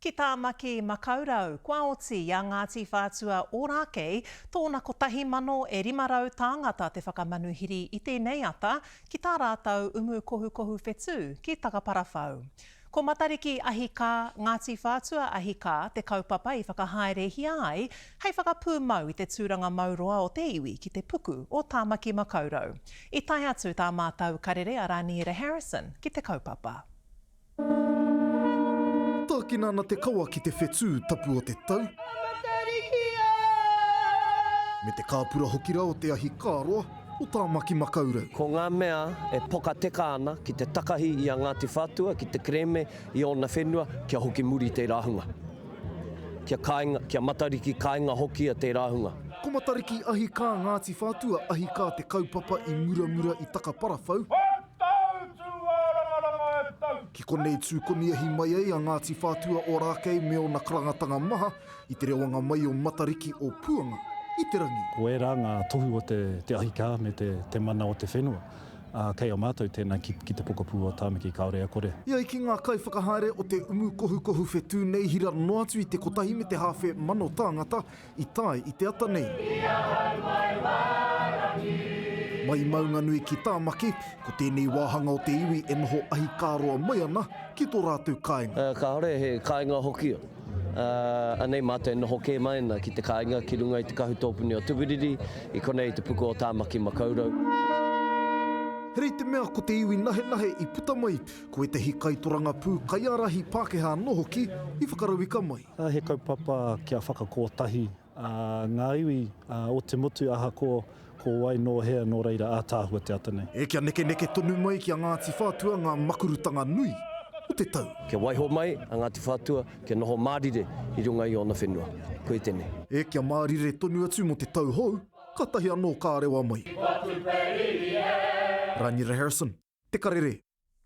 Ki Tāmaki Makaurau, kua oti i a Ngāti Whātua Ōrākei tōna 1,000 e 500 tāngata te whakamanuhiri i tēnei ata ki tā rātou umu kohukohu whetū ki Takaparawhau. Ko Matariki Ahi Kā, Ngāti Whātua Ahi Kā te kaupapa i whakahaerehia ai hei whakapūmau i te tūranga mau roa o te iwi ki te puku o Tāmaki Makaurau. I tae atu tā mātou karere a Rāniera Harrison ki te kaupapa. Tākina ana te kawa ki te whetū tapu o te tau. Me te kāpura hoki rā o te ahi kāroa o Tāmaki Makaurau. Ko ngā mea e pokateka ana ki te takahi i a Ngāti Whātua ki te kerēme i ōna whenua kia hoki muri tērā hunga. Kia kāinga, kia Matariki kāinga hokia tērā hunga. Ko Matariki ahi kā Ngāti Whātua ahi kā te kaupapa i muramura i Takaparawhau. Tau tū ārangaranga e tau. Ki konei tū koniahi mai ai a Ngāti Whātua Ōrākei me ōna karangatanga maha i te rewanga mai o Matariki o Puanga i te rangi. Ko ērā ngā tohu o te ahi kā me te mana o te whenua, ā, kei a mātou tēnā ki te pokapū o Tāmaki Kāore a Kore. E ai ki ngā kaiwhakahaere o te umu kohukohu whetū nei hira noa atu i te kotahi me te hāwhe mano tāngata, i tae i te ata nei. I ahau mai Wārangi. Mai Maunganui ki Tāmaki, ko tēnei wāhanga o te iwi e noho ahi kā roa mai ana ki tō rātou kāinga. Kāore he kāinga hoki, ā, anei mātou e noho kē mai ana ki te kāinga ki runga i te kahu tōpuni o Tuwiriri, i konei i te puku o Tāmaki Makaurau. He rei te mea ko te iwi nahenahe i puta mai, ko ētahi kaitorangapū, kaiārahi Pākehā anō hoki i whakarauika mai. He kaupapa kia whakakōtahi ngā iwi o te motu ahakoa ko wai, nō hea, nō reira ātaahua te ata nei. E Kia nekeneke tonu mai ki a Ngāti Whātua ngā makurutanga nui o te tau. Kia waiho mai a Ngāti Whātua kia noho mārire i runga i ōna whenua. Koe tenei. E Kia mārire tonu atu mō te tau hou, kātahi anō ka rewa mai. Rangira Harrison, Te Karere.